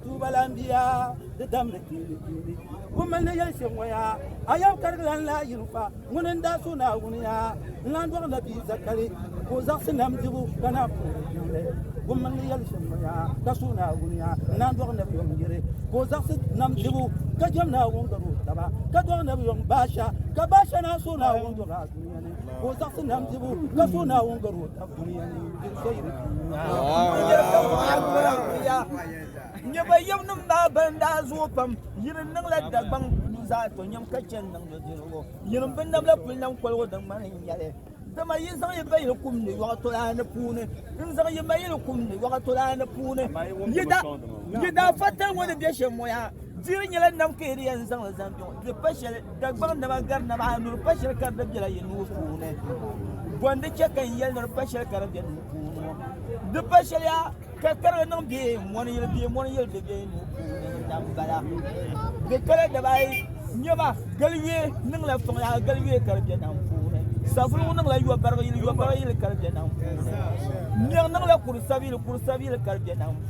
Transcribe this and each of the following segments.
Tuuba lan bi ya di damli kpeeni kpeeni. Kum mali ni yɛli shɛm ŋɔ ya, a yɛm karigi lan lahi yi n-fa, ŋuni n-daa suhi Naawuni ya, n-lan dɔɣi Nabi Zakari ka o zaɣisi nam dibu ka na puhi o yiŋli. Kum mali ni yɛli shɛm ŋɔ ya, ka suhi Naawuni ya, n-lan dɔɣi Nabi yom yiri ka o zaɣisi nam dibu, ka jɛm Naawuni gari o taba, ka dɔɣi Nabi yom Baasha, ka Baasha naan suhi Naawuni dɔɣi a dunia ni ka o zaɣisi nam dibu, ka suhi Naawuni gari o taba. Nyɛba yam nim maa ban daa zuɣu pam yini niŋ la dagbaŋ ni zaa to nyam ka chɛn niŋ di dirigu yini bi nam la kuli nam koligu din ŋmani n nyɛli dama yi zaŋ yi bayili kum ni yɔɣa tolaani puuni n zaŋ yi mayili kum ni yɔɣa tolaani puuni yi daa fa tali ŋɔ ni bɛ shɛm ŋɔ yaa diri nyɛla nam ka yi di yɛn zaŋ li zaŋ bɛ ŋɔ Di pa shɛli, Dagbaŋ naba gari naba ayi ni di pa shɛli ka di bela yi nuu puuni. Bɔndi chɛ ka n yɛli ni di pa shɛli ka di be nuu puuni ŋɔ. Di pa shɛliya ka karigi niŋ bɛ mɔni yili bɛ mɔni yili di be nuu puuni na m-bala. Di pala daba ayi, Nyɛma, Galiyue niŋla fɔŋya galiyue ka di be nam puuni. Savuligu niŋla yɔbarigi yili yɔbarigi yili ka di be nam puuni. Niɣi niŋla kuri sabiyili kuri sabiyili ka di be nam puuni.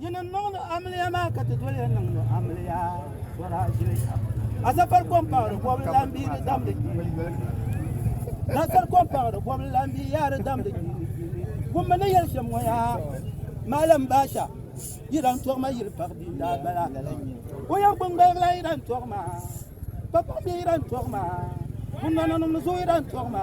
Yi ni niŋdi amiliya maa ka ti doli ya niŋdi amiliya sora ʒili kam. Asafar kɔmpaɣiri bɔbili lan bi di damdi kpini kpini. Nasar kɔmpaɣiri bɔbili lan bi yaa di damdi kpini kpini. Gummi ni yɛli shɛm ŋɔ yaa Maalim Baasha yi lan tɔɣi ma yili paɣi bia daa bala. O yɛn gbuni gbaligi la yi lan tɔɣi ma. Kpakpaɣi bihi yi lan tɔɣi ma. Kunnɔnanim ni zooi yi lan tɔɣi ma.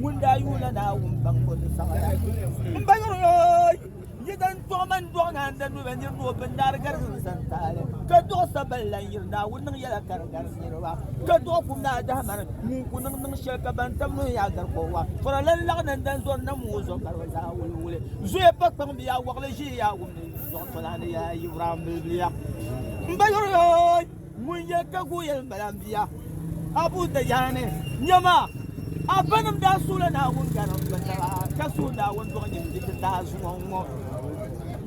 Ŋun daa yuuna Naawuni baŋ o ni zaŋ la. M ba yuri yooy, yi dan tuɣi man dɔɣi ni an da nuu bɛ nir ni o bin daari garisi n zan taali, ka dɔɣi sa bali lan yiri Naawuni niŋ yɛla ka di gari niriba, ka dɔɣi kum naa dahi mani ŋun ku niŋ niŋ shɛli ka ban tam nuhi yaa gari kɔŋ wa. Fɔra lan laɣi ni n dan zɔri nam ŋɔ zuɣu ka di zaa wuli wuli. Zoya pa kpaŋ bɛ yaa wɔɣili ʒihi yaa wumdi zuɣu tɔlani yaa Yivuraam bilibiliya. M ba yuri yooy! Ŋun yɛ ka guui yɛli m-bala, M bia, Abu Dajjani, nyama! A banim daa suhila Naawuni gari n-doli taba, ka suhi Naawuni dɔɣinyini diriti daa zuŋɔ n-ŋɔ.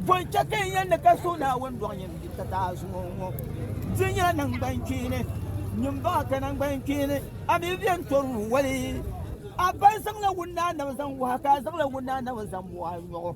Bɔ n-chɛ ka yi yɛn ni ka suhi Naawuni dɔɣinyini diriti daa zuŋɔ n-ŋɔ? Di nyɛla naŋgbankpeeni. Nyin baɣa ka naŋgbankpeeni, a mi bɛ n tɔri lu wali. A baŋ zaŋla wunnaanaba zaŋ wahi, ka a zaŋla wunnaanaba zaŋ mɔɣi nyɔɣu.